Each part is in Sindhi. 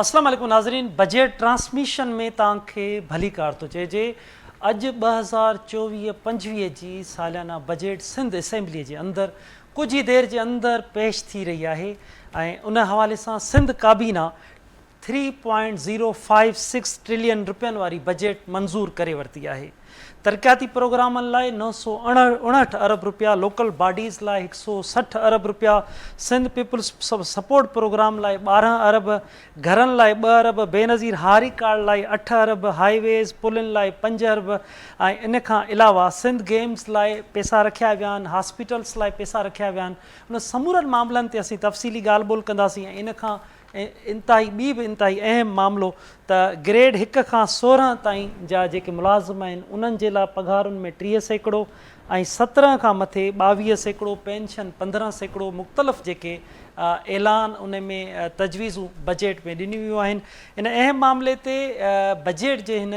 اسلام عليڪم ناظرين بجيٽ ٽرانسميشن ۾ توهان کي ڀليڪار ٿو چئجي اڄ ٻه هزار چوويهه پنجويهه جي ساليانه بجيٽ سنڌ اسيمبلي جي اندر ڪجهه ئي دير جي اندر پيش ٿي رهي آهي ۽ ان حوالي سان سنڌ ڪابينا three point zero five six trillion رپين واري بجيٽ منظور ڪري ورتي آهي. ترقياتي پروگرامن لاء نو سؤ اڻهٺ ارب رپيا، لوڪل باڊيز لاء هڪ سؤ سٺ ارب رپيا، سنڌ پيپلز سپورٽ پروگرام لاء ٻارهن ارب، گهرن لاء ٻه ارب، بينظير هاري ڪارڊ لاء اٺ ارب، هاء ويز، پلن لاء پنج ارب ۽ ان کان علاوه سنڌ گيمز لاء پئسا رکيا ويا آهن، هاسپيٽلز لاء پئسا رکيا ويا آهن. انهن سمورن معاملن تي اسين تفصيلي ڳالهه ٻولهه ڪنداسين ۽ ان کان انتهائي ٻي به انتهائي اهم معاملو ته گريڊ هڪ کان سورهن تائين جا جيڪي ملازم آهن انهن جي لاء پگهارن ۾ ٽيهه سيڪڙو ۽ سترهن کان مٿي ٻاويهه سيڪڙو پينشن پندرهن سيڪڙو مختلف جيڪي اعلان ان ۾ تجويزون بجيٽ ۾ ڏنيون ويون آهن ان اهم معاملي تي بجيٽ جي هن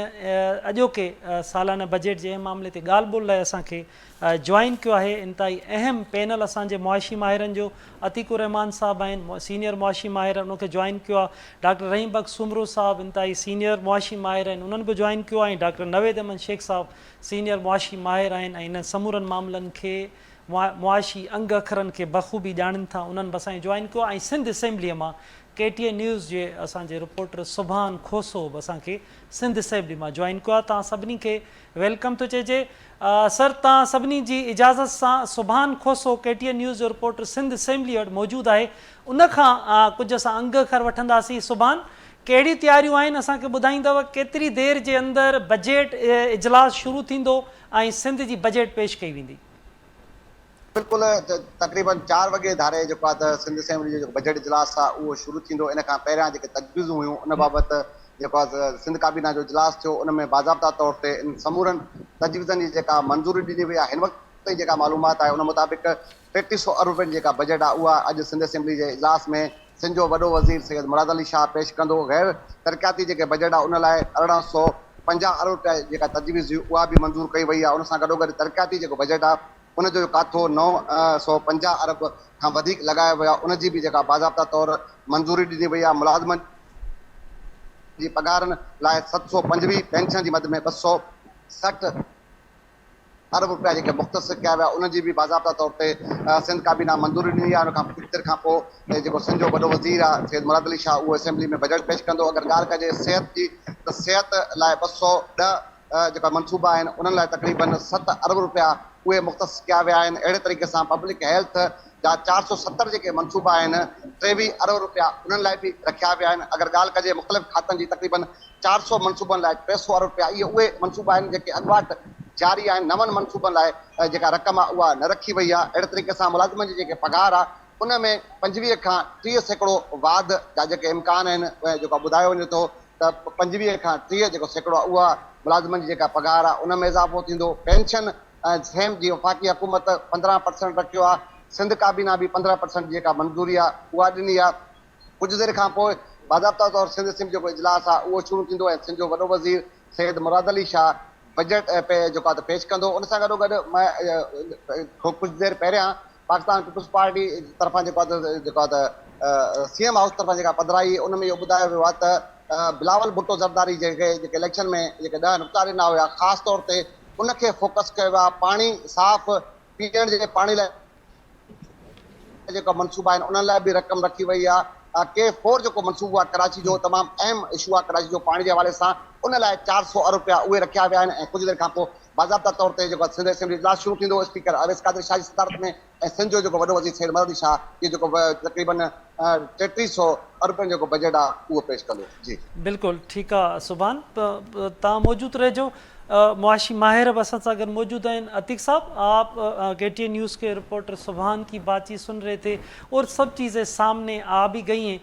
اڄوڪي سالانه بجيٽ جي اهم معاملي تي ڳالهه ٻولهه لاء اسان کي جوائن ڪيو آهي انتهائي اهم پينل اسان جي معاشي ماهرن جو عتيق الرحمان صاحب آهن سينيئر معاشي ماهر ان کي جوائن ڪيو آهي ڊاڪٽر رحيم بخش سومرو صاحب انتهائي سينيئر معاشي ماهر آهن انهن به جوائن ڪيو آهي ۽ ڊاڪٽر نويد احمد شيخ صاحب سينيئر معاشي ماهر آهن ۽ انهن سمورن معاملن کي معاشي انگ اکرن کي بخوبي ڄاڻين ٿا انهن به اسان کي جوائن ڪيو آهي ۽ سنڌ اسيمبلي مان ڪي ٽي اين نيوز جي اسان جي رپورٽر سبحان کوسو به اسان کي سنڌ اسيمبلي مان جوائن ڪيو آهي توهان سڀني کي ويلڪم ٿو چئجي سر تان سڀني جي اجازت سان Subhan Khoso K T N news جو رپورٽر سنڌ اسيمبلي وٽ موجود آهي ان کان ڪجهه اسان انگ کر وٺنداسين سبحان ڪهڙي تياريون آهن اسان کي ٻڌائيندو ڪيتري دير جي اندر بجيٽ اجلاس شروع ٿيندو ۽ سنڌ جي بجيٽ پيش ڪئي ويندي. بلڪل تقريباً چار وڳي ڌاري جيڪو آهي ته سنڌ اسيمبلي جو جيڪو بجيٽ اجلاس آهي اهو شروع ٿيندو ان کان پهريان جيڪي تجويزون هيون ان بابت جيڪو آهي ته سنڌ ڪابينا جو اجلاس ٿيو ان ۾ باضابطا طور تي ان سمورن تجويزن جي جيڪا منظوري ڏني وئي آهي هن وقت تائين جيڪا معلومات آهي ان مطابق ٽيٽي سؤ ارب رپين جي جيڪا بجيٽ آهي اها اڄ سنڌ اسيمبلي جي اجلاس ۾ سنڌ جو وڏو وزير سيد مراد علي شاهه پيش ڪندو غير ترقياتي جيڪي بجيٽ آهي ان لاء ارڙهن سؤ پنجاهه ارب رپيا جي جيڪا تجويز هئي اها به منظور ڪئي وئي آهي ان سان گڏوگڏ ترقياتي جيڪو بجيٽ آهي ان جو ڪاٿو نو سؤ پنجاهه ارب کان وڌيڪ لڳايو ويو آهي، ان جي به جيڪا باضابطا طور منظوري ڏني وئي آهي، ملازمن جي پگهارن لاء ست سؤ پنجويهه، پينشن جي مد ۾ ٻه سؤ سٺ ارب رپيا جيڪي مختص ڪيا ويا ان جي به باضابطا طور تي سنڌ ڪابينا منظوري ڏني آهي، ان کان ڪجهه دير کان پوء جيڪو سنڌ جو وڏو وزير آهي سيد مراد علي شاهه اهو اسيمبلي ۾ بجيٽ پيش ڪندو، اگر ڳالهه ڪجي صحت جي ته صحت لاء ٻه سؤ ڏهه. جيڪا منصوبا آهن انهن لاء تقريبن ست ارب رپيا اهي مختص ڪيا ويا آهن اهڙي طريقي سان پبلڪ هيلٿ جا چار سؤ ستر جيڪي منصوبا آهن ٽيويهه ارب رپيا انهن لاء به رکيا ويا آهن اگر ڳالهه ڪجي مختلف کاتن جي تقريبن چار سؤ منصوبن لاء ٽي سؤ ارب رپيا اهي اهي منصوبا آهن جيڪي اڳواٽ جاري آهن نون منصوبن لاء جيڪا رقم آهي اها نه رکي وئي آهي اهڙي طريقي سان ملازمن جي جيڪي پگهار آهي ان ۾ پنجويهه کان ٽيهه سيڪڙو واڌ جا جيڪي امڪان آهن جيڪا ٻڌايو وڃي ٿو ته پنجويهه کان ٽيهه جيڪو سيڪڙو آهي اها ملازمن جي جيڪا پگهار آهي ان ۾ اضافو ٿيندو، پينشن ۽ سيم جي وفاقي حڪومت پندرهن پرسنٽ رکيو آهي، سنڌ ڪابينا به پندرهن پرسنٽ جي جيڪا منظوري آهي اها ڏني آهي، ڪجهه دير کان پوء باضابطه طور سنڌ اسيمبلي جيڪو اجلاس آهي اهو شروع ٿيندو ۽ سنڌ جو وڏو وزير سيد مراد علي شاهه بجيٽ جيڪو آهي ته پيش ڪندو ان سان گڏوگڏ ڪجهه دير پهريان پاڪستان پيپلز پارٽي طرفان جيڪو آهي ته جيڪو آهي ته سي ايم هائوس طرفان جيڪا پڌرائي ان ۾ اهو ٻڌايو ويو آهي ته بلاول ڀٽو زرداري جنهن کي جيڪي اليڪشن ۾ جيڪي ڏهه نقطا ڏنا هيا خاص طور تي ان کي فوڪس ڪيو ويو آهي پاڻي صاف پيئڻ جي پاڻي لاء جيڪا منصوبا آهن انهن لاء به رقم رکي وئي آهي ڪي فور جيڪو منصوبو آهي ڪراچي جو تمام اهم اشو آهي ڪراچي جو پاڻي جي حوالي سان ان لاء چار سؤ ارب رپيا اهي رکيا ويا آهن ۽ ڪجهه دير کان پوء باضابطه طور تي جيڪو سنڌ اسيمبلي اجلاس شروع ٿيندو، اسپيڪر اويس قادر شاهه جي صدارت ۾ ۽ سنڌ جو جيڪو وڏو وزير سيد مراد علي شاهه اهو جيڪو تقريبن ٽيٽيهه سؤ ارب جو جيڪو بجيٽ آهي اهو پيش ڪندو. جي. بلڪل ٺيڪ آ سبحان تان موجود رهجو معاشي ماهر به اسان سان گڏ موجود آهن عتيق صاحب آپ ڪي ٽي اين نيوز ڪي رپورٽر سبحان ڪي بات چيت سن رهي ٿي اور سڀ چيزين سامني آ به گئي هين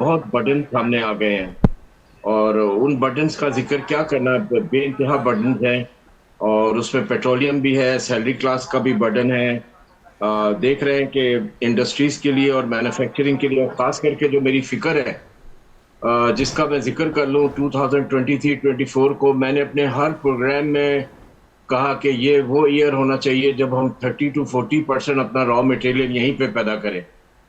بهت برڊنس سامني آ گئي هين اور ان برڊنس ڪا ذڪر ڪيا ڪرنا بي انتها برڊنس هين اور اس ۾ پيٽروليم بي هي سيلري ڪلاس ڪا بي برڊن هي ديک رهي هين ڪي انڊسٽريز ڪي ليي اور مينوفيڪچرنگ ڪي ليي خاص ڪر ڪي جو ميري فڪر هي جس ڪا مين ذڪر ڪر لون two thousand twenty three twenty four ڪو مين ني اپني هر پروگرام مين ڪها ڪي يي وو ايئر هونا چاهيي جب هم ٿرٽي ٽو فورٽي پرسينٽ اپنا را ميٽيريل يهين پي پيدا ڪري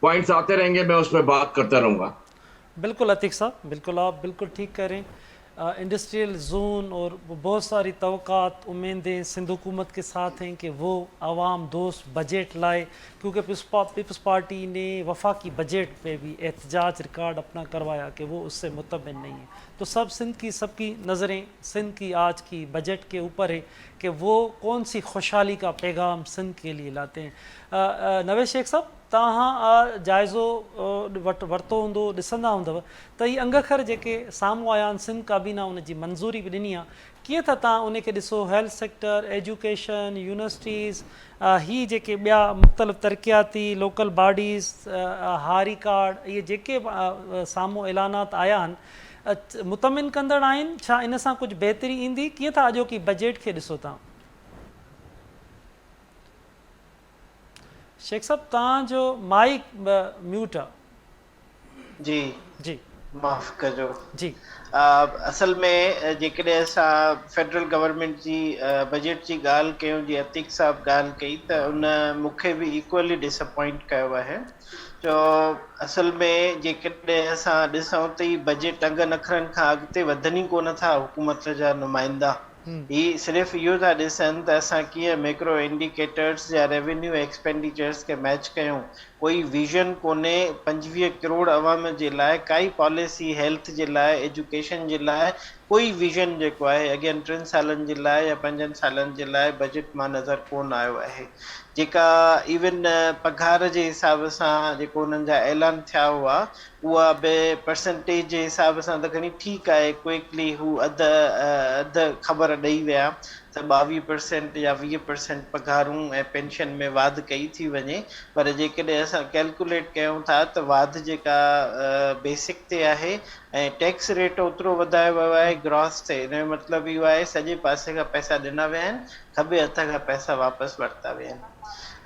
پوائنٽس آتي رهين گي مين اس پي بات ڪرتا رهون گا. بلڪل عتيق صاحب بلڪل آپ بلڪل ٺيڪ ڪهه رهين انڊسٽريل زون اور بهت ساري توقعات اميدين سنڌ حڪومت ڪي ساٿ هين ڪي وو عوام دوست بجيٽ لائي ڪيونڪه پيپلز پارٽي ني وفاقي بجيٽ پي بي احتجاج ريڪارڊ اپنا ڪروايا ڪي وو اس سي مطمئن نهين هين تو سب سنڌ ڪي سب ڪي نظرين سنڌ ڪي آج ڪي بجيٽ ڪي اوپر هين ڪي وو ڪون سي خوشحالي ڪا پيغام سنڌ ڪي لئي لاتے هين نويد شيخ صاحب توهان جائزو ورتو هوندو ڏسندا هوندؤ ته هي انگ اکر جيڪي سامهون آيا آهن سنڌ ڪابينا ان جي منظوري به ڏني آهي ڪيئن ٿا توهان انهي کي ڏسو هيلٿ سيڪٽر ايجوڪيشن يونيورسٽيز هي جيڪي ٻيا مختلف ترقياتي لوڪل باڊيز هاري ڪارڊ اهي جيڪي سامهون اعلانات آيا آهن مطمئن ڪندڙ آهن ڇا ان سان ڪجهه بهتري ايندي ڪيئن ٿا اڄوڪي بجيٽ کي ڏسو توهان. شيخ صاحب توهان جو مائيڪ ميوٽ آ. جي جي. معاف ڪجو جي. اصل ۾ جيڪڏهن اسان فيڊرل گورنمينٽ جي بجيٽ جي ڳالهه ڪيون جيئن عتيق صاحب ڳالهه ڪئي ته ان مون کي به ايڪوئلي ڊس اپوائنٽ ڪيو آهي جو اصل ۾ جيڪڏهن اسان ڏسون ته هي بجيٽ ٽنگ نخرن کان اڳتي وڌن ئي ڪونه ٿا حڪومت جا نمائندا هي صرف اهو ٿا ڏسن ته اسان ڪيئن ميڪرو انڊيڪيٽرز يا ريونيو ايڪسپينڊيچرز کي ميچ ڪيون. ڪوئي ويزن ڪونهي، پنجويهه ڪروڙ عوام جي لاء ڪائي پاليسي، هيلٿ جي لاء، ايجوڪيشن جي لاء ڪوئي ويزن جيڪو آهي اڳين ٽن سالن جي لاء يا پنجن سالن جي لاء بجيٽ مان نظر ڪون آيو آهي. جيڪا ايون پگهار جي حساب سان جيڪو انهن جا اعلان ٿيا هئا اها به پرسنٽيج جي حساب سان ته گهڻي ٺيڪ آهي، ڪوئڪلي هو اڌ اڌ خبر ڏئي ويا ته ٻاويهه پرسنٽ يا ويهه پرسنٽ پگهارون ۽ پينشن ۾ واڌ ڪئي ٿي وڃي پر جيڪڏهن اسان ڪيلڪوليٽ ڪيون ٿا ته واڌ جيڪا بيسڪ تي آهي ۽ ٽيڪس ريٽ اوترو وڌايو ويو آهي گراس تي ان جو مطلب اهو آهي سڄي پاسي کان پئسا ڏنا ويا آهن کٻي هٿ کان پئسا واپس ورتا ويا آهن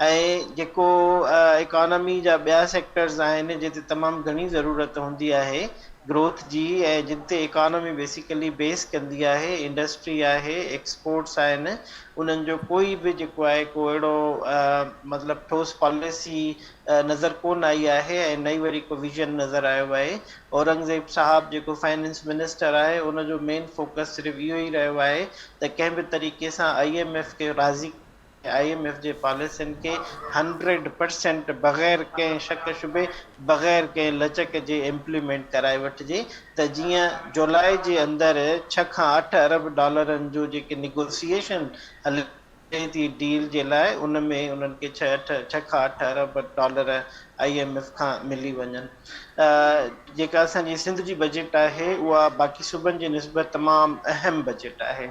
۽ جيڪو اڪانامي جا ٻيا سيڪٽرز آهن جن تي تمام گهڻي ضرورت هوندي آهي گروٿ جي ۽ جن تي اڪانامي بيسيڪلي بيس ڪندي آهي انڊسٽري آهي ايڪسپورٽس آهن انهن جو ڪوئي به جيڪو آهي ڪو اهڙو مطلب ٺوس پاليسي نظر ڪون آئي آهي ۽ نه ئي وري ڪو ويزن نظر آيو آهي اورنگزيب صاحب جيڪو فائننس منسٽر آهي ان جو مين فوڪس صرف اهو ئي رهيو آهي ته ڪنهن به طريقي سان آء ايم ايف کي راضي ڪري آء ايم ايف جي پاليسين کي هنڊريڊ پرسينٽ بغير ڪنهن شڪ شبهي بغير ڪنهن لچڪ جي امپليمينٽ ڪرائي وٺجي ته جيئن جولاء جي اندر ڇهه کان اٺ ارب ڊالرن جو جيڪي نيگوسيئيشن هليا ٿئي ٿي ڊيل جي لاء ان ۾ انهن کي ڇهه کان اٺ ارب ڊالر آئي ايم ايف کان ملي وڃن جيڪا اسان جي سنڌ جي بجيٽ آهي اها باقي صوبن جي نسبت تمام اهم بجيٽ آهي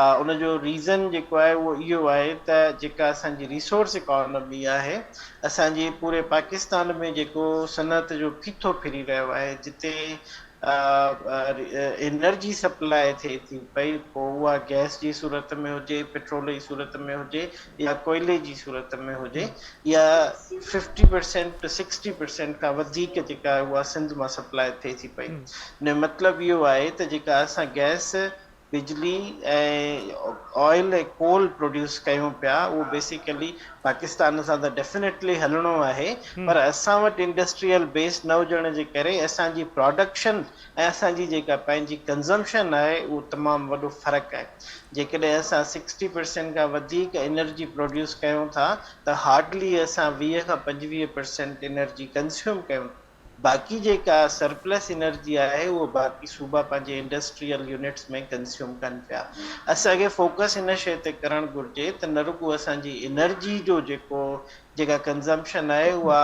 ان جو ريزن جيڪو آهي اهو اهو آهي ته جيڪا اسان جي ريسورس اڪانومي آهي اسان جي پوري پاڪستان ۾ جيڪو صنعت جو ڦيٿو ڦري رهيو آهي جتي انرجي سپلاء ٿئي ٿي پئي پوء اها گئس جي صورت ۾ هجي پيٽرول جي صورت ۾ هجي يا ڪوئلي جي صورت ۾ هجي يا ففٽي پرسينٽ سڪسٽي پرسينٽ کان وڌيڪ جيڪا اها سنڌ مان سپلاء ٿئي ٿي پئي ان جو مطلب اهو آهي ته جيڪا اسان گئس بجلي ۽ آئل ۽ ڪول پروڊيوس ڪيون پيا اهو بيسيڪلي پاڪستان سان ته ڊيفنيٽلي هلڻو آهي پر اسان وٽ انڊسٽريل بيس نه هجڻ جي ڪري اسان جي پراڊڪشن ۽ اسان جي جيڪا پنهنجي ڪنزمپشن آهي اهو تمام وڏو فرق آهي جيڪڏهن اسان سڪسٽي پرسينٽ کان وڌيڪ انرجي پروڊيوس ڪيون ٿا ته هارڊلي اسان ويهه کان پنجويهه پرسينٽ انرجي ڪنزيوم ڪيون ٿا باقي جيڪا سرپلس انرجي آهي اهو باقي صوبا پنهنجي انڊسٽريل يونٽس ۾ ڪنزيوم ڪن پيا. اسان کي فوڪس ان شيء تي ڪرڻ گهرجي ته نه رڳو اسان جي انرجي جو جيڪو جيڪا ڪنزمپشن آهي اها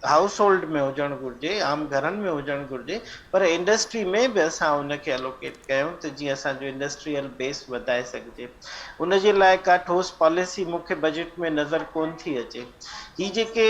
هائوس هولڊ ۾ هجڻ گهرجي، عام گهرن ۾ هجڻ گهرجي پر انڊسٽري ۾ به اسان ان کي الوڪيٽ ڪيون ته جيئن اسان جو انڊسٽريل بيس وڌائي سگهجي. ان جي لاء ڪا ٺوس پاليسي مون کي بجيٽ ۾ نظر ڪونه ٿي اچي. هي جيڪي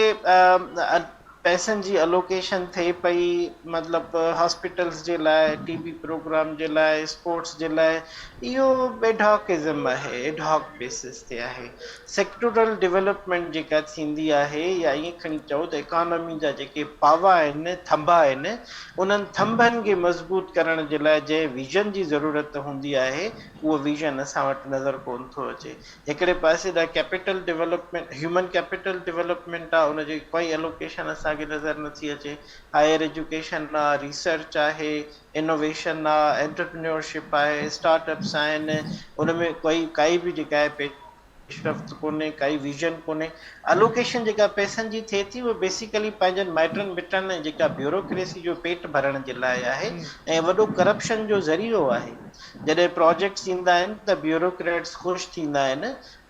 پئسن جي الوڪيشن ٿئي پئي مطلب هاسپيٽلز جي لاء ٽي بي پروگرام جي لاء اسپورٽس جي لاء اهو ايڊهاڪ ازم آهي ايڊهاڪ بيسز تي آهي سيڪٽورل ڊولپمينٽ جيڪا ٿيندي آهي يا ائين کڻي چئو ته اڪانومي جا جيڪي پاوا آهن ٿنڀا آهن انهن ٿنڀن کي مضبوط ڪرڻ جي لاء جنهن ويزن جي ضرورت هوندي آهي اهو ويزن اسان وٽ نظر ڪون ٿو اچي هڪڙي پاسي ڏانهن capital development, human capital development آهي، ان جي ڪوئي الوڪيشن اسان کي نظر نٿي اچي، هائير ايجوڪيشن آهي، ريسرچ آهي، انوويشن آهي، انٽرپرينيورشپ آهي، اسٽارٽ اپس آهن، ان ۾ ڪوئي ڪائي به جيڪا آهي پيشرفت ڪونهي، ڪائي ويزن ڪونهي، الوڪيشن جيڪا پئسن جي ٿئي ٿي اهو بيسيڪلي پنهنجن مائٽن مٽن ۽ جيڪا بيوروڪريسي جو پيٽ ڀرڻ جي لاء آهي ۽ وڏو ڪرپشن جو ذريعو آهي. جڏهن پراجيڪٽس ايندا آهن ته بيوروڪريٽس خوش ٿيندا آهن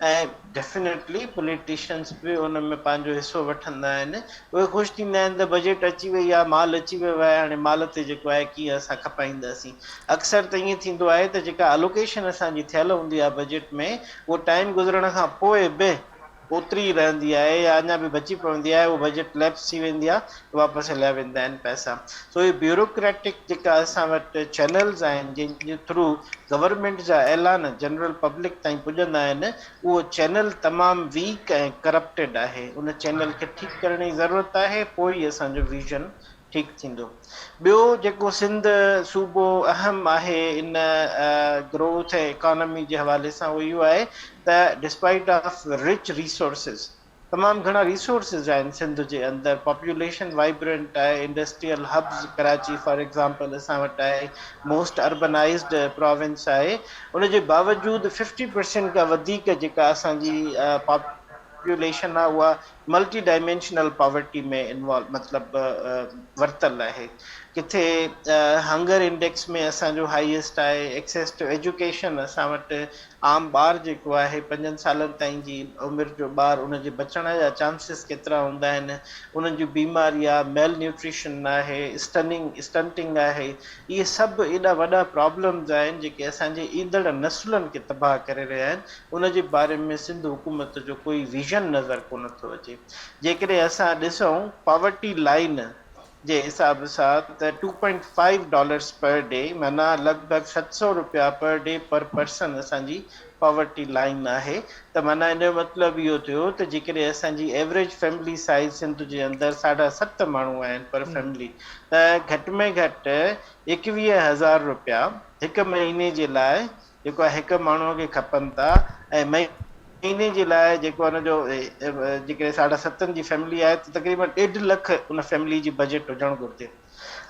۽ ڊيفنيٽلي پوليٽيشنس به ان ۾ پنهنجو حصو وٺندا آهن اهي خوش ٿيندا آهن ته بجيٽ اچي وئي آهي مال اچي ويو آهي هاڻي مال تي جيڪو آهي ڪيئن اسان کپائينداسين اڪثر ته ائين ٿيندو آهي ته جيڪا الوڪيشن اسان جي ٿيل هوندي آهي بجيٽ ۾ اهو ٽائيم گذرڻ کان پوء به اوتري ئي رهندي آهي يا اڃا به بچي پوندي آهي اهو بجيٽ ليپس ٿي ويندي آهي ته واپس هليا ويندا آهن پئسا سو هي بيوروڪريٽڪ جيڪا اسان وٽ چينلز آهن جن جي ٿرو گورنمينٽ جا اعلان جنرل پبلڪ تائين پڄندا آهن اهو چينل تمام ويڪ ۽ ڪرپٽيڊ آهي ان چينل کي ٺيڪ ڪرڻ جي ضرورت آهي پوء ئي اسان جو ويزن ٺيڪ ٿيندو. ٻيو جيڪو سنڌ صوبو اهم آهي ان گروٿ ۽ اڪانامي جي حوالي سان اهو اهو آهي ته ڊسپائيٽ آف رچ ريسورسز تمام گهڻا ريسورسز آهن سنڌ جي اندر پاپوليشن وائبرنٽ آهي industrial hubs Karachi for example اسان وٽ آهي موسٽ اربنائيزڊ پراونس آهي ان جي باوجود ففٽي پرسينٽ کان وڌيڪ جيڪا اسان جي پاپوليشن آهي اها ملٽي ڊائمينشنل پاورٽي ۾ انوالو مطلب ورتل آهي ڪٿي هنگر انڊيڪس ۾ اسان جو هائيسٽ آهي ايڪسيس ٽو ايجوڪيشن اسان وٽ عام ٻار جيڪو آهي پنجن سالن تائين جي عمر جو ٻار ان جي بچڻ جا چانسز ڪيترا هوندا آهن انهن جون بيماريا ميل نيوٽريشن آهي اسٽننگ اسٽنٽنگ آهي اهي سڀ ايڏا وڏا پرابلمز آهن جيڪي اسان جي ايندڙ نسلن کي تباهه ڪري رهيا آهن ان جي باري ۾ سنڌ حڪومت جو ڪوئي ويزن نظر ڪونه ٿو اچي جيڪڏهن اسان ڏسون پاورٽي لائين جي حساب سان ته two point five dollars per day معنيٰ لڳ ڀڳ ست سؤ رپيا پر ڊي پر پرسن اسان جي پاورٽي لائين آهي ته معنيٰ ان جو مطلب اهو ٿيو ته جيڪڏهن اسان جي ايوريج فيملي سائيز سنڌ جي اندر ساڍا ست ماڻهو آهن پر فيملي ته گهٽ ۾ گهٽ ايڪويهه هزار رپيا هڪ مهيني جي لاء جيڪو هڪ ماڻهوء کي کپن ٿا ۽ مهيني جي لاء جيڪو ان جو جيڪڏهن ساڍا ستن جي فيملي آهي ته تقريبن ڏيڍ لک ان فيملي جي بجيٽ هجڻ گهرجي.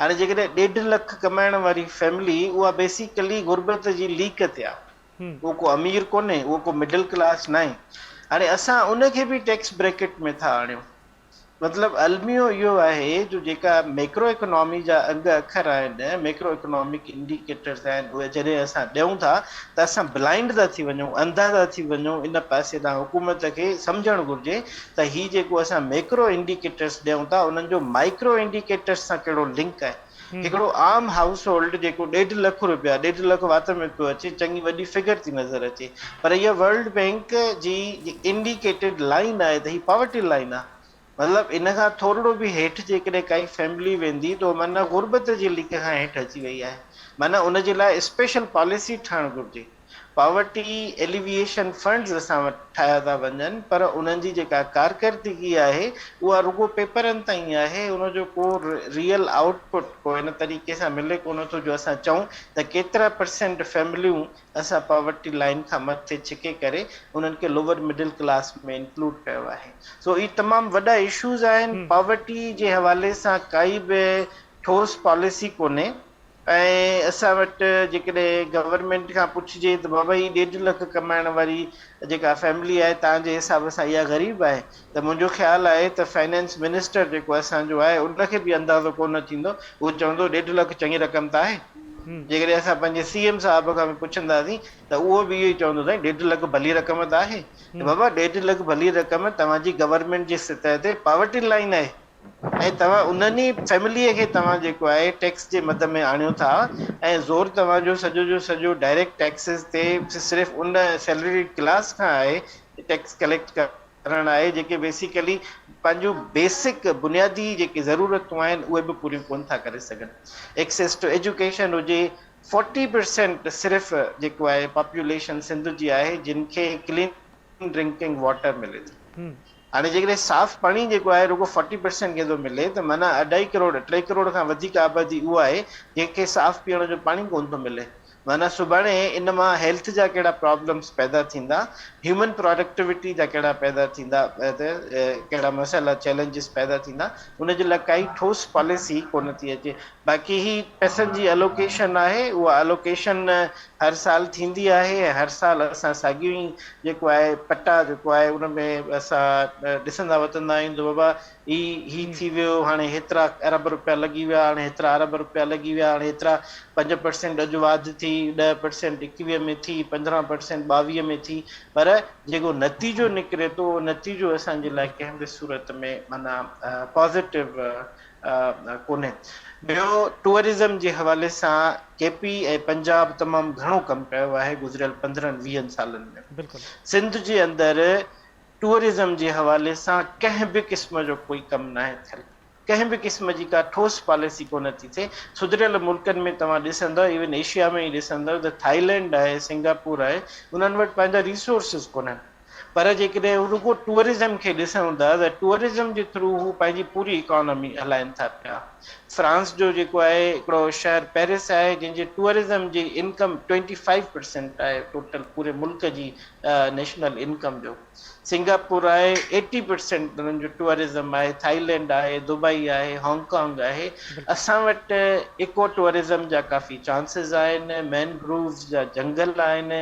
هاڻي جيڪڏهن ڏيڍ لک ڪمائڻ واري فيملي اها بيسيڪلي غربت جي ليڪ تي آهي. اهو ڪو امير ڪونهي، اهو ڪو مڊل ڪلاس ناهي. هاڻي اسان ان کي به ٽيڪس بريڪٽ ۾ ٿا آڻيون. مطلب الميو اهو آهي جو جيڪا ميڪرو اڪنامي جا انگ اکر آهن، ميڪرو اڪنامڪ انڊيڪيٽرز آهن، اهي جڏهن اسان ڏيون ٿا ته اسان بلائنڊ ٿا ٿي وڃون، انڌا ٿا ٿي وڃون ان پاسي ڏانهن، حڪومت کي سمجهڻ گهرجي ته هي جيڪو اسان ميڪرو انڊيڪيٽرز ڏيون ٿا انهن جو مائيڪرو انڊيڪيٽرز سان ڪهڙو لنڪ آهي. هڪڙو عام هائوس هولڊ جيڪو ڏيڍ لک روپيا، ڏيڍ لک وات ۾ پيو اچي، چڱي وڏي فگر ٿي نظر اچي. پر اها ورلڊ بئنڪ جي انڊيڪيٽيڊ لائين آهي ته هي پاورٽي لائين آهي. مطلب ان کان ٿورڙو به هيٺ جيڪڏهن ڪائي فيملي ويندي ته اها معنيٰ غربت جي ليڪ کان هيٺ اچي وئي آهي. معنيٰ ان جي لاء اسپيشل پاليسي ٺهڻ گهرجي. پاورٽي ايليويئيشن فنڊز اسان وٽ ٺاهيا ٿا وڃن پر انهن جي جيڪا ڪارڪردگي آهي اها رڳو پيپرن تائين آهي ان جو ڪو ريئل آئوٽ پٽ ڪو ان طريقي سان ملي ڪونه ٿو جو اسان چئون ته ڪيترا پرسينٽ فيمليون اسان پاورٽي لائين کان مٿي ڇڪي ڪري انهن کي لوور مڊل ڪلاس ۾ انڪلوڊ ڪيو آهي سو اهي تمام وڏا اشوز آهن پاورٽي جي حوالي سان ڪائي به ٺوس پاليسي ڪونهي. ۽ اسان وٽ جيڪڏهن گورنمينٽ کان پڇجي ته بابا هي ڏيڍ لک ڪمائڻ واري جيڪا فيملي آهي تنهن جي حساب سان اها غريب آهي ته منهنجو خيال آهي ته فنانس منسٽر جيڪو اسان جو آهي ان کي به اندازو ڪونه ٿيندو هو چوندو ڏيڍ لک چڱي رقم ته آهي جيڪڏهن اسان پنهنجي سي ايم صاحب کان به پڇنداسين ته اهو به اهو ئي چوندو سائين ڏيڍ لک ڀلي رقم ته آهي ته بابا ڏيڍ لک ڀلي رقم توهان جي گورنمينٽ جي سطح تي پاورٽي لائين آهي ۽ توهان انهن ئي فيمليء کي توهان جيڪو آهي ٽيڪس جي مد ۾ آڻيو ٿا ۽ زور توهان جو سڄو جو سڄو ڊائريڪٽ ٽيڪسز تي صرف ان سيلريڊ ڪلاس کان آهي ٽيڪس ڪليڪٽ ڪر ڪرڻ آهي جيڪي بيسيڪلي پنهنجون بيسڪ بنيادي جيڪي ضرورتون آهن اهي به پوريون ڪون ٿا ڪري سگهن ايڪسيس ٽو ايجوڪيشن هجي فورٽي پرسينٽ صرف جيڪو آهي پاپوليشن سنڌ جي آهي جن کي ڪلين ڊرنڪنگ واٽر ملي ٿي. هاڻي جيڪڏهن صاف پاڻي جيڪو آهي رڳو فورٽي پرسينٽ ڪنهن ٿو ملي ته معنيٰ اڍائي ڪروڙ ٽي ڪروڙ کان وڌيڪ آبادي اها آهي جنهن کي صاف پيئڻ جو پاڻي ڪونه ٿو ملي معنيٰ سڀاڻي ان مان هيلٿ جا ڪهڙا پرابلمز پيدا ٿيندا هيومن پراڊڪٽوٽي جا ڪهڙا پيدا ٿيندا ڪهڙا مسئلا چئلينجز پيدا ٿيندا ان جي لاء ڪائي ٺوس پاليسي ڪونه ٿي اچي باقي هي پئسن جي الوڪيشن آهي اها الوڪيشن هر سال ٿيندي آهي ۽ هر سال اسان ساڳيون ئي جيڪو آهي پٽا جيڪو آهي ان ۾ اسان ڏسندا وتندا آهيون ته بابا هي هي جي ٿي ويو هاڻي هيترا ارب رپيا لڳي ويا هاڻي هيترا ارب رپيا لڳي ويا هاڻي هيترا پنج پرسينٽ اڄ واڌ ٿي ڏهه پرسينٽ ايڪويهه ۾ ٿي پندرهن پرسينٽ ٻاويهه ۾ ٿي پر جيڪو نتيجو نڪري ٿو نتيجو اسانجي لاء ڪنهن به صورت ۾ معنيٰ پازيٽو ڪونهي ٻيو ٽوئرزم جي حوالي سان ڪي پي ۽ پنجاب تمام گهڻو ڪم ڪيو آهي گذريل پندرهن ويهن سالن ۾ سنڌ جي اندر ٽوئرزم جي حوالي سان ڪنهن به قسم جو ڪوئي ڪم ناهي ٿيل ڪنهن به قسم جي ڪا ٺوس پاليسي ڪونه ٿي ٿئي سڌريل ملڪن ۾ توهان ڏسندؤ ايون ايشيا ۾ ئي ڏسندؤ ته ٿائلينڊ آهي سنگاپور آهي انهن وٽ پنهنجا ريسورسز ڪونهن پر جيڪڏهن رڳو ٽوئرزم کي ڏسون ٿا ته ٽوئرزم جي ٿرو هو پنهنجي پوري اڪانامي هلائين ٿا پيا. فرانس جو جيڪو آهي هڪڙو شهر پئرس آهي جنهن جي ٽوئرزم جي انڪم ٽوئنٽي فائيو پرسينٽ آهي ٽوٽل پوري ملڪ جي نيشنل انڪم جو. سنگاپور آهي ايٽي پرسينٽ انهن جو ٽوئرزم آهي، ٿائلينڊ آهي، دبئي آهي، هانگ ڪانگ آهي. اسان وٽ ايڪو ٽوئرزم جا ڪافي چانسز آهن، مين گرووز جا جنگل آهن،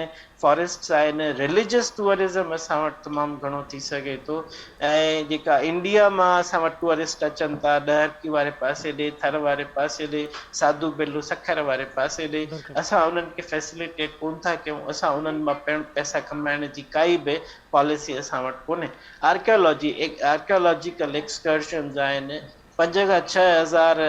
فاريسٽس آهن رليجس ٽوئرزم اسان وٽ تمام گهڻو ٿي سگهي ٿو ۽ جيڪا انڊيا مان اسان وٽ ٽوئرسٽ اچن ٿا ڏهرڪي واري پاسي ڏي ٿر واري پاسي ڏي ساڌو بيلو سکر واري پاسي ڏي اسان انهن کي فيسليٽيٽ ڪون ٿا ڪيون اسان انهن مان پڻ پئسا ڪمائڻ جي ڪائي به پاليسي اسان وٽ ڪونهي آرڪيالاجي آرڪيالاجيڪل ايڪسڪرشنز آهن پنج کان ڇهه هزار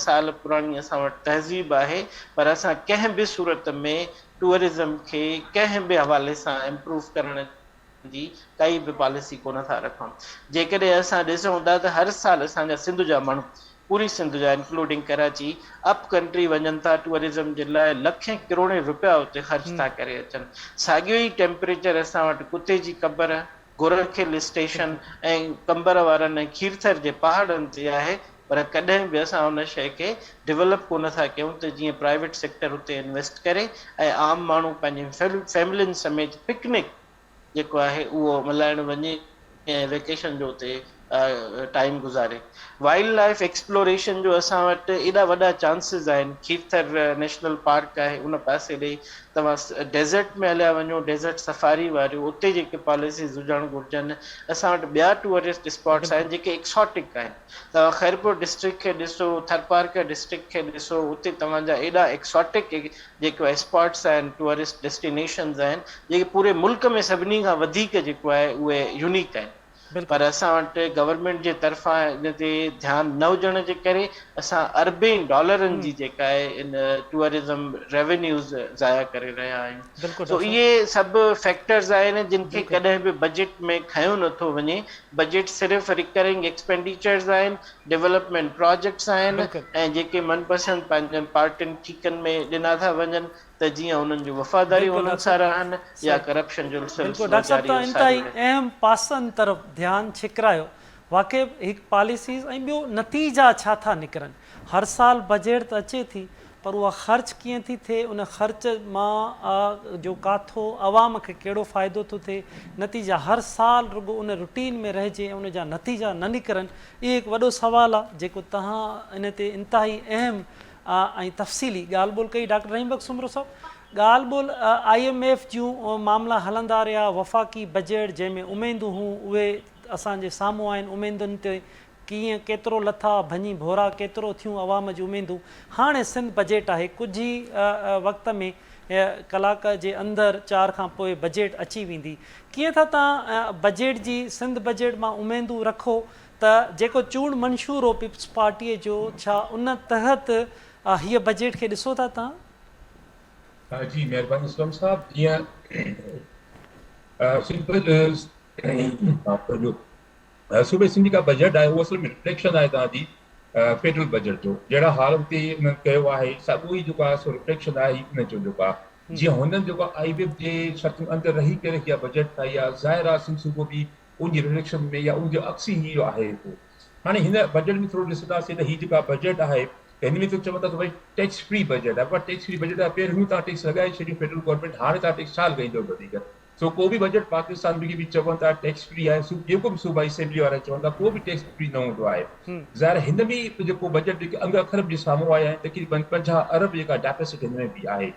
سال پراڻي اسان وٽ تهذيب آهي پر اسان ڪنهن به صورت ۾ ٽوئرزم کي ڪنهن به حوالي سان امپروف ڪرڻ جي ڪائي به پاليسي ڪونه ٿا رکون جيڪڏهن اسان ڏسون ٿا ته هر سال اسان جا سنڌ جا ماڻهو پوري سنڌ جا انڪلوڊنگ ڪراچي اپ ڪنٽري وڃن ٿا ٽوئرزم جي لاء لکين ڪروڙين روپيا اتي خرچ ٿا ڪري اچن ساڳيو ئي ٽيمپريچر اسان وٽ ڪتي جي قبر گورک هل اسٽيشن ۽ قمبر وارن ۽ کيرٿر جي پهاڙن تي آهي پر ڪڏهن به اسان ان شيء کي ڊولپ ڪو نه ٿا ڪيون ته جيئن پرائيويٽ سيڪٽر اتي انويسٽ ڪري ۽ عام ماڻهو پنهنجين فيملين سميت پڪنڪ جيڪو آهي اهو ملهائڻ وڃي ۽ ويڪيشن جو اتي ٽائيم گذاري وائلڊ لائيف ايڪسپلوريشن جو اسان وٽ ايڏا وڏا چانسز آهن کيرٿر نيشنل پارڪ آهي ان پاسي ڏي توهان ڊيزرٽ ۾ هليا وڃو ڊيزرٽ سفاري واريون اتي جيڪي پاليسيز هجڻ گهرجن اسان وٽ ٻيا ٽوئرسٽ اسپاٽس آهن جيڪي ايڪساٽڪ آهن توهان خيرپور ڊسٽرڪٽ کي ڏسو ٿرپارڪر ڊسٽرڪٽ کي ڏسو اتي توهان جا ايڏا ايڪساٽڪ جيڪو اسپاٽس آهن ٽوئرسٽ ڊيسٽينيشنز آهن جيڪي پوري ملڪ ۾ سڀني کان وڌيڪ جيڪو آهي اهي يونيڪ آهن پر اسان وٽ گورنمينٽ جي طرفان ان تي ڌيان نه هجڻ جي ڪري اسان اربين ڊالرن جي جيڪا آهي ان ٽوئرزم ريونيوز ضايع ڪري رهيا آهيون سو اهي سڀ فيڪٽرز آهن جن کي ڪڏهن به بجيٽ ۾ کنيو نٿو وڃي بجيٽ صرف ريڪرنگ ايڪسپينڊيچرز آهن ڊيولپمينٽ پراجيڪٽس آهن ۽ جيڪي من پسند پنهنجن پارٽين ٺيڪن ۾ ڏنا ٿا وڃن ته جيئن انهن جون وفاداريون بلڪل انهن ڊاڪٽر سارا آهن يا صاحب ڪرپشن جو بلڪل سلسلو ڊاڪٽر صاحب جاري توهان ۽ ساري انتهائي رهي. اهم پاسن طرف ڌيان ڇڪرايو واقعي به هڪ پاليسيز ۽ ٻيو نتيجا ڇا ٿا نڪرن هر سال بجيٽ ته اچي ٿي پر اها خرچ ڪيئن ٿي ٿئي ان خرچ مان آ جو ڪاٿو عوام کي ڪهڙو فائدو ٿو ٿئي نتيجا هر سال رڳو ان روٽين ۾ رهجي ۽ ان جا نتيجا نه نڪرن اهو هڪ وڏو سوال آ جيڪو توهان ان تي انتهائي اهم آء ۽ تفصيلي ڳالهه ٻولهه ڪئي ڊاڪٽر رحيم بخش سومرو صاحب ڳالهه ٻولهه آء ايم ايف جون معاملا هلندا رهيا وفاقي بجيٽ جنهن ۾ اميدون هون اهي اسان جي سامهون آهن اميدن تي ڪيئن ڪيترو لٿا ڀڃي ڀورا ڪيترو ٿيون عوام جون اميدون هاڻي سنڌ بجيٽ آهي ڪجهه ئي وقت ۾ ڪلاڪ جي اندر چار کان پوء بجيٽ اچي ويندي ڪيئن ٿا تان بجيٽ جي سنڌ بجيٽ مان اميدون رکو ته جيڪو چونڊ منشور هو پيپلز پارٽيء جو، ڇا ان تحت هيء بجيٽ کي ڏسو ٿا توهان؟ جي مهرباني اسلم صاحب جيئن صوبي صوبي سنڌ جيڪا بجيٽ آهي اهو اصل ۾ رفليڪشن آهي توهان جي فيڊرل بجيٽ جو جهڙا حال هتي انهن ڪيو آهي ساڳيو ئي جيڪو آهي سو رفليڪشن آهي ان جو جيڪو آهي جيئن هنن جيڪو آئي ويب جي شرطن اندر رهي ڪري اها بجيٽ ٺاهي آهي ظاهر آهي سنڌ صوبو به ان جي ريليشن ۾ يا ان جو عڪس ئي اهو آهي جيڪو هاڻي هن بجيٽ ۾ ٿورو ڏسنداسين ته هي جيڪا بجيٽ آهي ته هن ۾ ته چون ٿا ته ڀاء ٽيڪس فري بجيٽ آهي پر ٽيڪس فري بجيٽ آهي پهريون تان ٽيڪس لڳائي ڇڏيو فيڊرل گورنمينٽ هاڻي تان ٽيڪس ڇا لڳائيندو وڌيڪ سو ڪو به بجيٽ پاڪستان ۾ به چون ٿا ٽيڪس فري آهي سو جيڪو به صوبائي اسيمبلي وارا چون ٿا ڪو به ٽيڪس فري نه هوندو آهي ظاهر هن ۾ جيڪو بجيٽ جيڪي انگ اکر به سامهون آيا آهن تقريبن پنجاهه ارب جيڪا ڊيفيسٽ هن ۾ به آهي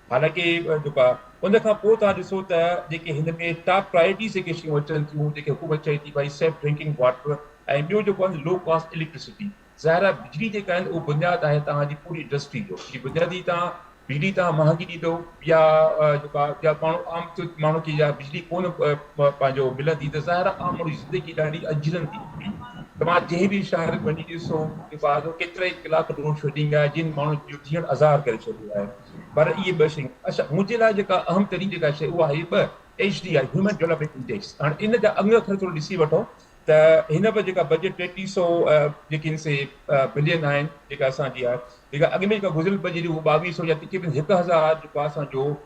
حالانڪه جيڪا ان کان پوء توهان ڏسو ته جيڪي هن ۾ ٽاپ پرائرٽيز جيڪي شيون اچن ٿيون جيڪي حڪومت چئي ٿي ڀائي سيف ڊرنڪنگ واٽر ۽ ٻيو جيڪو آهن لو ڪاسٽ اليڪٽرسٽي ظاهر آهي بجلي جيڪا آهن اهو بنياد آهي توهان جي پوري انڊسٽري جو جي بنيادي توهان بجلي توهان مهانگي ڏيندو يا جيڪا يا ماڻهو عام ماڻهو کي يا بجلي ڪونه مان پنهنجو بلا ديده ظاهر آ، مڙئي زندگي ڏاڍي اجرن ٿي وڃي. توهان جنهن به شهر ۾ وڃي ڏسو ته ٻاهر جو ڪيترائي ڪلاڪ ڊرون شوٽنگ آهي، جن ماڻهن جو جيئڻ عذاب ڪري ڇڏيو آهي. پر اهي ٻه شيون اڇا منهنجي لاء جيڪا اهم ترين جيڪا شيء اها آهي ٻه H D I human development index. هاڻي ان جا انگ اکر ٿورو ڏسي وٺو ته هن به جيڪا بجيٽ ٽيٽيهه سئو جيڪي آهن سي بلين آهن جيڪا اسان جي آهي جيڪا اڳ ۾ جيڪا گذريل بجيٽ هئي اهو ٻاويهه سئو يا تقريبن هڪ هزار جيڪو آهي اسان جو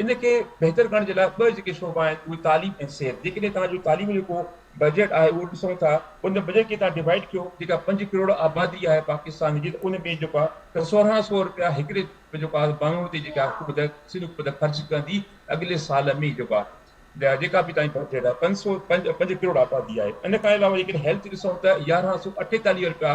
ان کي بهتر ڪرڻ جي لاء ٻه جيڪي شعبا آهن اهي تعليم ۽ صحت جيڪڏهن توهان جو تعليم جو ڪو بجيٽ آهي اهو ڏسون ٿا ان بجيٽ کي توهان ڊوائيڊ ڪيو جيڪا پنج ڪروڙ آبادي آهي پاڪستان جي ته ان ۾ جيڪو آهي ته سورهان سو روپيا هڪڙي جيڪو آهي ماڻهوء تي جيڪا حڪومت سنڌ حڪومت خرچ ڪندي اڳلي سال ۾ جيڪو آهي جيڪا به توهان جي بجيٽ آهي پنج سو پنج پنج ڪروڙ آبادي آهي ان کان علاوه جيڪڏهن هيلٿ ڏسون ته يارهن سو اٺيتاليهه روپيا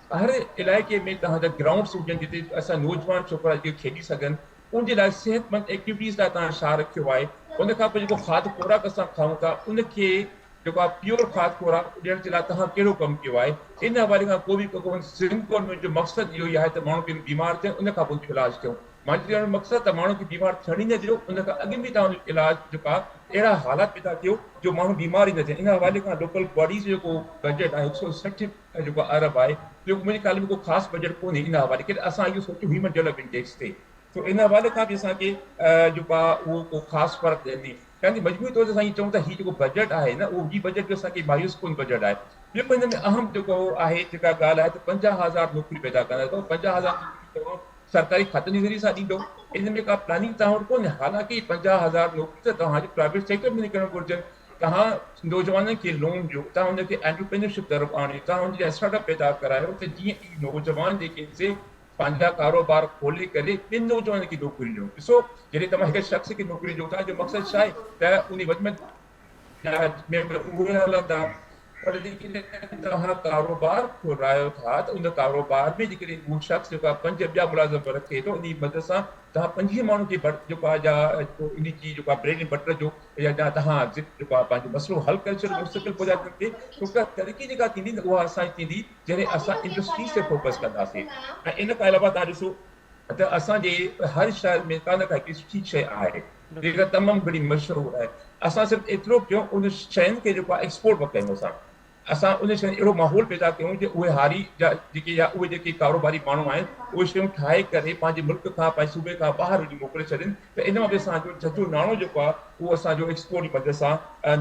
هر علائقي ۾ توهان جا گرائونڊس هجن جتي اسان نوجوان ڇوڪرا جيڪي کيڏي سگهن ان جي لاء صحتمند ايڪٽيوٽيز لاء توهان شاهه رکيو آهي ان کان پوء جيڪو کاڌ خوراڪ اسان کائون ٿا ان کي جيڪو آهي پيور کاڌ خوراڪ ڏيڻ جي لاء توهان ڪهڙو ڪم ڪيو آهي ان حوالي کان ڪو به ڪون سنڌ گورنمينٽ جو مقصد اهو ئي آهي ته ماڻهو پهريون بيمار ٿين ان کان پوء جو علاج ٿيون مانجي چوڻ جو مقصد ته ماڻهو کي بيمار ٿيڻ ئي نه ڏيو ان کان اڳ ۾ توهان جو علاج جيڪو آهي اهڙا حالات پيدا ڪيو جو ماڻهو بيمار ئي نه ٿين ان حوالي کان لوڪل باڊيز جو جيڪو بجيٽ آهي هڪ سئو سٺ جيڪو عرب آهي جو منهنجي خيال ۾ ڪو خاص بجيٽ ڪونهي ان حوالي ڪڏهن اسان اهو سوچيو هيومن ڊيولپمينٽ ٽيڪس تي سو ان حوالي کان به اسان کي جيڪو آهي اهو ڪو خاص فرق ڪونهي يعني مجموعي طور تي اسان اهو چئون ٿا هي جيڪو بجيٽ آهي نه اهو هي بجيٽ جو اسان کي مايوس ڪن بجيٽ آهي ٻيو هن ۾ اهم جيڪو آهي جيڪا ڳالهه آهي ته پنجاهه هزار نوڪري پيدا ڪندا ته پنجاهه هزار نوڪري توهان سرڪاري کاتن جي ذريعي سان ڏيندو ان ۾ ڪا پلاننگ توهان وٽ ڪونهي حالانڪه پنجاهه هزار نوڪري ته توهان جي پرائيويٽ سيڪٽر ۾ نڪرڻ گهرجن توهان نوجوانن کي لون ڏيو، توهان هن کي انٽرپرينيورشپ طرف آڻيو، توهان هن جا اسٽارٽ اپ پيدا ڪرايو ته جيئن هي نوجوان جيڪي آهن سي پنهنجا ڪاروبار کولي ڪري ٻين نوجوانن کي نوڪريون ڏيون. ڏسو جڏهن توهان هڪ شخص کي نوڪري ڏيو ٿا جو مقصد ڇا آهي ته ان وچ ۾ ۾ اهي هلندا پر جيڪڏهن توهان ڪاروبار کولرايو ٿا ته ان ڪاروبار ۾ جيڪڏهن اهو شخص جيڪو آهي پنج ٻيا ملازم به رکي ٿو انهي مدد سان توهان پنجين ماڻهن جي برت جيڪو آهي جا جيڪو انهي جي جيڪو آهي بريڊ اينڊ بٽر جو يا جا توهان جيڪو آهي پنهنجو مسئلو حل ڪري ڇڏيو مستقل پوء جا تن تي ڇوڪه ترقي جيڪا ٿيندي نه اها اسان جي ٿيندي جڏهن اسان انڊسٽريز تي فوڪس ڪنداسين ۽ ان کان علاوه توهان ڏسو ته اسان جي هر شهر ۾ ڪا نه ڪا هڪڙي سٺي شئي آهي جيڪا تمام گھڻي مشھور آھي اسان صرف ايترو ڪيون ان شين کي جيڪو آھي ايڪسپورٽ به ڪيون اسان اسان ان شين اھڙو ماحول پيدا ڪيون جي اھي ھاري جا جيڪي يا اھي جيڪي ڪاروباري ماڻھو آھن اھي شيون ٺاھي ڪري پنھنجي ملڪ کان پنھنجي صوبي کان ٻاھر وڃي موڪلي ڇڏين ته ان مان به اسان جو جھجھو ناڻو جيڪو آھي اھو اسان جو ايڪسپورٽ جي مدد سان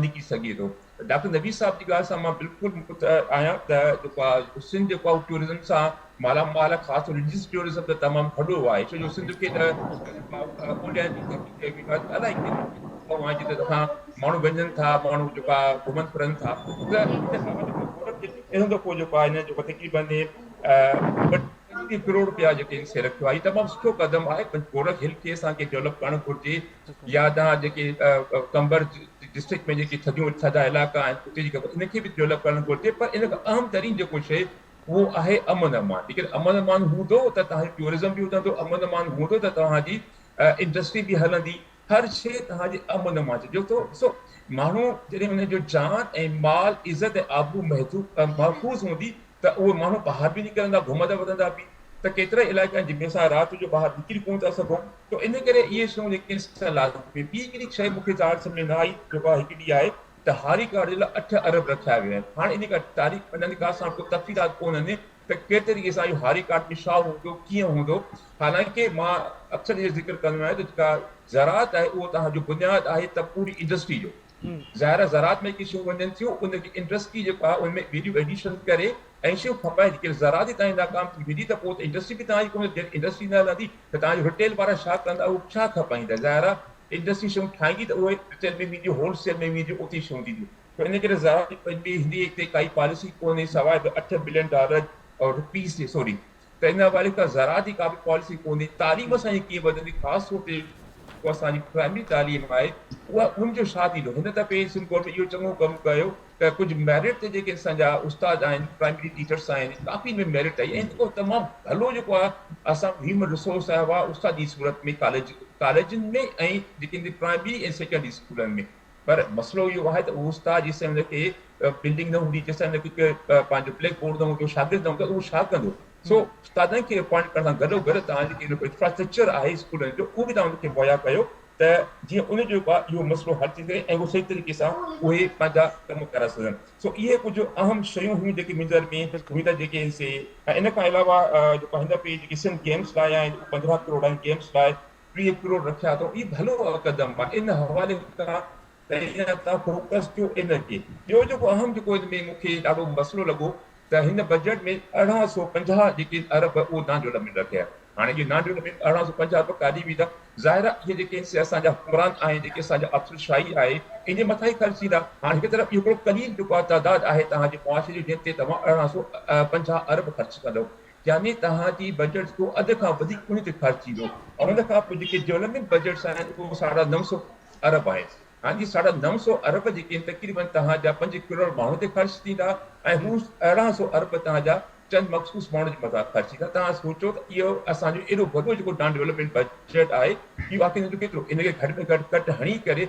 نڪري سگھي ٿو ڊاڪٽر نبي صاحب جي ڳالهه سان مان بلڪل متفق آهيان ته جيڪو آ سنڌ جيڪو آ ٽوئرزم سان مالا مال آ خاص طور رليجس ٽوئرزم ته تمام ٿڏو آهي ڇو جو سنڌ کي ته اولياء جي ڌرتي چئي ويندو آهي الاهي ڪيتريون جتي اسان ماڻهو وڃن ٿا ماڻهو جيڪو آ گهمن ڦرن ٿا ته انهن دفعو جيڪو آ هن جيڪو تقريبن ٽيهه ڪروڙ رپيا جيڪي سي رکيو آهي تمام سٺو قدم آهي پر گورک هل کي اسان کي ڊولپ ڪرڻ گهرجي يا تان جيڪي قمبر ڊسٽرڪٽ ۾ جيڪي ٿڌيون ٿڌا علائقا آهن اتي جيڪي ان کي به ڊولپ ڪرڻ گهرجي پر ان کان اهم ترين جيڪو شيء اهو آهي امن امان جيڪڏهن امن امان هوندو ته تهانجو ٽيورزم به وڌندو امن امان هوندو ته توهان جي انڊسٽري به هلندي هر شيء تهان جي امن امان چئجو ٿو ڏسو ماڻهو جڏهن ان جو جان ۽ مال عزت ۽ آبرو محفوظ هوندي ته اهي ماڻهو ٻاهر به نڪرندا، گهمندا وڌندا به ته ڪيترائي علائقا آهن جن ۾ اسان رات جو ٻاهر نڪري ڪونه ٿا سگهون ته ان ڪري اهي شيون جيڪي آهن سا لازمي آهن. ٻي هڪڙي شيء مون کي ظاهر سمجهه ۾ نه آئي جيڪو آهي هڪڙي اها آهي ته هاري ڪارڊ جي لاء اٺ ارب رکيا ويا آهن. هاڻ ان ڪا تاريخ ۽ ان ڪا ساڻ ڪو تفصيلات ڪونهن ته ڪهڙي طريقي سان اهو هاري ڪارڊ ۾ ڇا هوندو، ڪيئن هوندو. حالانڪه مان اڪثر اهو ذڪر ڪندو آهيان ته جيڪا زراعت آهي اهو تهان جو بنياد آهي ته پوري انڊسٽري جو. ظاهر آهي زراعت ۾ جيڪي شيون وڃن ٿيون ان جي انڊسٽري جيڪو آهي ان ۾ ويليو ايڊيشن ڪري ۽ شيون کپائي جيڪڏهن زراعت ئي تهانجي ناڪام ٿي ويندي ته پوء ته انڊسٽري به تهانجي ڪونه جڏهن انڊسٽري نه هلندي ته تهانجي رٽيل وارا ڇا ڪندا اهي ڇا کپائيندا ظاهر آهي انڊسٽري شيون ٺاهيندي ته اهي رٽيل ۾ وينديون هول سيل ۾ وينديون اتي شيون ٿينديون ته ان ڪري زراعت جي پنهنجي هندي تي ڪائي پاليسي ڪونهي سواء اٺ بلين ڊالر رپيز جي سوري ته ان حوالي کان زراعت جي ڪابه پاليسي ڪونهي، تعليم اسان جي ڪيئن وڌندي خاص طور تي جيڪو اسان جي پرائمري تعليم آهي اها ان جو ڇا ٿيندو، هن دفعي سنڌ گورنمينٽ اهو چڱو ڪم ڪيو ته ڪجهه ميرٽ تي جيڪي اسان جا استاد آهن پرائمري ٽيچرس آهن ڪافي ۾ ميرٽ آئي ۽ جيڪو تمام ڀلو جيڪو آهي اسان هيومن رسورس آهي اها استاد جي صورت ۾ ڪاليج ڪاليجن ۾ ۽ جيڪي پرائمري ۽ سيڪنڊري اسڪولن ۾. پر مسئلو اهو آهي ته اهو استاد جيسين هن کي بلڊنگ نه هوندي جيسين هن کي پنهنجو بليڪ بورڊ نه هوندو شاگرد نه هوندا ته اهو ڇا ڪندو سو استادن کي اپوائنٽ ڪرڻ سان گڏو گڏ توهان جي جيڪو انفراسٽرڪچر آهي اسڪولن جو اهو به توهان ان کي مهيا ڪيو ته جيئن ان جو اهو مسئلو حل ٿي سگهي ۽ اهو صحيح طريقي سان اهي پنهنجا ڪم ڪرائي سگهن سو اهي ڪجهه اهم شيون هيون جيڪي منهنجي نظر ۾ هيون ته جيڪي سي ۽ ان کان علاوه جيڪو هن پي جيڪي سنڌ گيمس لاء آهن پندرهن ڪروڙ آهن گيمس لاء ٽيهه ڪروڙ رکيا اٿئو اهي ڀلو قدم آهي ان حوالي کان پهريان تان فوڪس ٿيو ان تي ٻيو جيڪو اهم جيڪو ان ۾ مونکي ڏاڍو مسئلو لڳو ته هن بجيٽ ۾ ارڙهن سؤ پنجاهه جيڪي ارب اهو نان ڊولپمينٽ رکيا هاڻي اهي نان ڊولپمينٽ ارڙهن سؤ پنجاهه ارب ڪاڏي ويندا ظاهر آهي اهي جيڪي سي اسان جا حڪمران آهن جيڪي اسان جا افسر شاهي آهي ان جي مٿان ئي خرچ ٿيندا هاڻي هڪ طرف اهو هڪڙو قليل جيڪو آهي تعداد آهي توهان جي معاشري جي جنهن تي توهان ارڙهن سؤ پنجاهه ارب خرچ ڪندئو يعني توهان جي بجيٽ جو اڌ کان وڌيڪ انهي تي خرچ ٿيندو ۽ ان کان پوء جيڪي ڊولپمينٽ بجيٽس آهن اهي ساڍا نو سؤ ارب آهن هاڻي جي ساڍا نو سؤ ارب جيڪي آهن تقريبن توهان جا پنج ڪروڙ ماڻهن تي خرچ ٿيندا ۽ هو ارڙهن سؤ ارب توهان جا چند مخصوص ماڻهن جي مٿان خرچ ٿيندا توهان سوچو ته اهو اسان جو ايڏو وڏو جيڪو ڊان ڊولپمينٽ بجيٽ آهي اهو آخر ان جو ڪيترو ان کي گهٽ ۾ گهٽ ڪٽ هڻي ڪري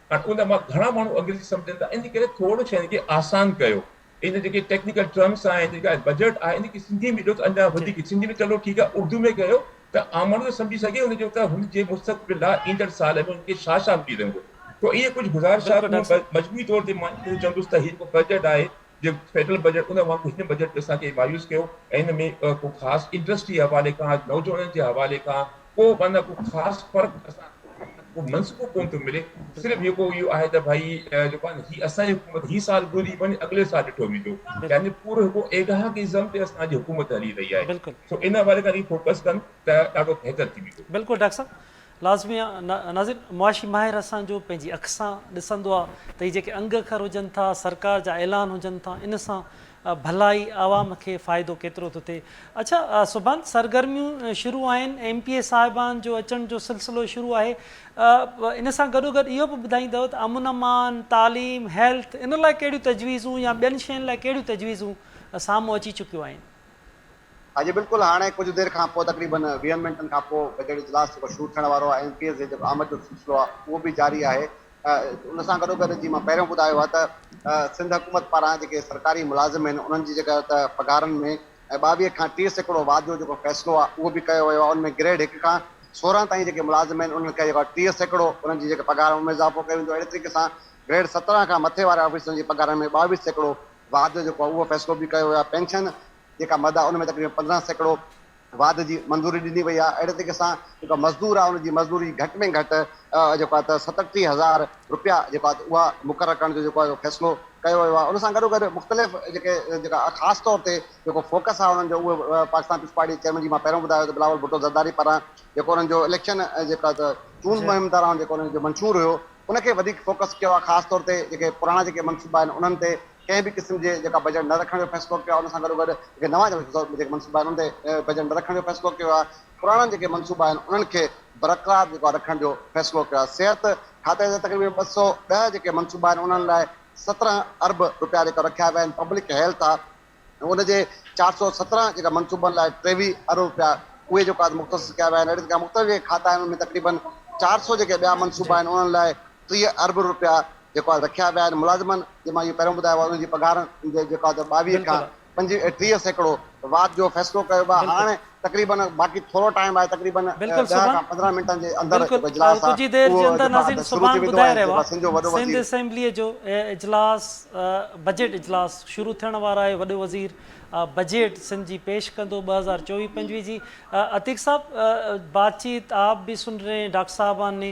۽ ان مان گهڻا ماڻهو انگريزي سمجهن ٿا ان ڪري ٿورڙو شين کي آسان ڪيو ان جيڪي ٽيڪنيڪل ٽرمس آهن ان جيڪا بجيٽ آهي ان کي سنڌي ۾ ڏيو ته اڃا وڌيڪ سنڌي ۾ چلو ٺيڪ آهي اردو ۾ ڪيو ته عام ماڻهو ته سمجهي سگهي ان جو ته هن جي مستقبل لاء ايندڙ سال ۾ ان کي ڇا ڇا ملي رهندو تو اهي ڪجهه گذارشات مجموعي طور تي مان اهو چوندس ته هي جيڪو بجيٽ آهي جو فيڊرل بجيٽ ان وانگر هن بجيٽ به اسان کي مايوس ڪيو ۽ هن ۾ ڪو خاص انڊسٽري جي حوالي کان نوجوانن جي حوالي کان ڪو معنيٰ ڪو خاص فرق اسان ڪو منصوبو ڪون ٿو ملي صرف جيڪو اهو آهي ته ڀائي جيڪو آهي هي اسان جي حڪومت هي سال گذري وڃي اڳلي سال ڏٺو ويندو يعني پورو هڪ ايڊهاڪ ازم تي اسان جي حڪومت هلي رهي آهي سو ان حوالي کان فوڪس ڪن ته ڏاڍو بهتر ٿي ويندو بلڪل ڊاڪٽر صاحب لازمي آ ناظرين معاشي ماهر اسان جو پنهنجي اک سان ڏسندو آ ته هي جيڪي انگ اکر هجن ٿا سرڪار جا اعلان هجن ٿا ان سان ڀلائي عوام کي فائدو ڪيترو ٿو ٿئي اڇا سبحان سرگرميون شروع آهن ايم پي اي صاحبان جو اچڻ جو سلسلو شروع آهي ان سان گڏو گڏ اهو به ٻڌائيندؤ ته امن امان تعليم هيلٿ ان لاء ڪهڙيون تجويزون يا ٻين شين لاء ڪهڙيون تجويزون سامهون اچي چڪيون آهن. اڄ بلڪل هاڻي ڪجهه دير کان پوء تقريبن ويهن منٽن کان پوء بجيٽ اجلاس جيڪو شروع ٿيڻ وارو آهي ايم پي ايز جي جيڪو آمد جو سلسلو آهي اهو به جاري آهي ان سان گڏو گڏ جي مان پهريون ٻڌايو آهي ته سنڌ حڪومت پاران جيڪي سرڪاري ملازم آهن انهن جي جيڪا ته پگهارن ۾ ٻاويهه کان ٽيهه سيڪڙو واڌ جو جيڪو فيصلو آهي اهو به ڪيو ويو آهي ان ۾ گريڊ هڪ کان سورهن تائين جيڪي ملازم آهن انهن کي جيڪو ٽيهه سيڪڙو انهن جي جيڪي پگهار ان ۾ اضافو ڪيو ويندو اهڙي طريقي سان گريڊ سترهن کان مٿي واري آفيسرن جي پگهارن ۾ ٻاويهه سيڪڙو واڌ جيڪو آهي اهو فيصلو به ڪيو ويو آهي پينشن جيڪا مد آهي ان ۾ تقريبن پندرهن سيڪڙو واڌ جي منظوري ڏني وئي آهي اهڙي طريقي سان جيڪو مزدور آهي ان جي مزدوري گهٽ ۾ گهٽ جيڪو آهي ته ستٽيهه هزار رپيا جيڪو آهي ته اها مقرر ڪرڻ جو جيڪو آهي فيصلو ڪيو ويو آهي ان سان گڏو گڏ مختلف جيڪي جيڪا خاص طور تي جيڪو فوڪس آهي انهن جو اهو پاڪستان پيپلز پارٽي چيئرمين جي مان پهريون ٻڌايو ته بلاول ڀٽو زرداري پاران جيڪو انهن جو اليڪشن جيڪو آهي ته چونڊ مهم دوران جيڪو انهن جو منشور هيو ان کي وڌيڪ فوڪس ڪيو آهي خاص طور تي جيڪي پراڻا جيڪي منصوبا آهن انهن تي ڪنهن به قسم جي جيڪا بجيٽ نه رکڻ جو فيصلو ڪيو آهي ان سان گڏوگڏ جيڪي نوان جيڪي منصوبا آهن انهن تي بجيٽ نه رکڻ جو فيصلو ڪيو آهي پراڻا جيڪي منصوبا آهن انهن کي برقرار جيڪو آهي رکڻ جو فيصلو ڪيو آهي صحت کاتي جا تقريبن ٻه سؤ ڏهه جيڪي منصوبا آهن انهن لاء سترهن ارب روپيا جيڪا رکيا ويا آهن پبلڪ هيلٿ آهي ان جي چار سؤ سترهن جيڪا منصوبن لاء ٽيويهه ارب روپيا اهي جيڪو آهي مختص ڪيا ويا آهن اهڙي طرح مختلف جيڪي کاتا آهن ان ۾ تقريبن چار سؤ جيڪي ٻيا منصوبا آهن انهن لاء ٽيهه ارب روپيا جيڪو آهي رکيا ويا آهن ملازمن جي مان اهو پهريون ٻڌايو ويو انهن جي پگهارن جي جيڪو آهي ٻاويهه کان پنجويهه ٽيهه سيڪڙو واڌ جو فيصلو ڪيو ويو آهي هاڻ تقريبن باقي ٿورو ٽائيم آهي تقريبن ڏهه کان پندرهن منٽن جي اندر جيڪو اجلاس آهي اهو جيڪو آهي شروع ٿي ويندو ۽ جيڪو سنڌ جو وڏو وزير اسيمبلي جو اجلاس بجيٽ اجلاس شروع ٿيڻ وارو آهي وڏو وزير بجيٽ سنڌ جي پيش ڪندو ٻه هزار چوويهه پنجويهه جي عتيق صاحب بات چيت آپ به سن رهي ڊاڪٽر صاحبان ني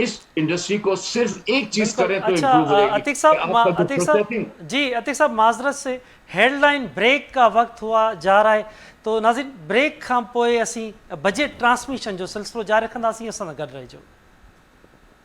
اس انڊسٽري کو صرف ايڪ چيز بلڪل ڪري تو اڇا امپروو رھي گي عتيق صاحب ما عتيق صاحب جي عتيق صاحب معذرت سي ھيڊ لائين بريڪ ڪا وقت ھئا جا رھا ھي تو ناظرين بريڪ کان پوء اسين بجيٽ ٽرانسميشن جو سلسلو جاري رکنداسين اسان سان گڏ رھجو.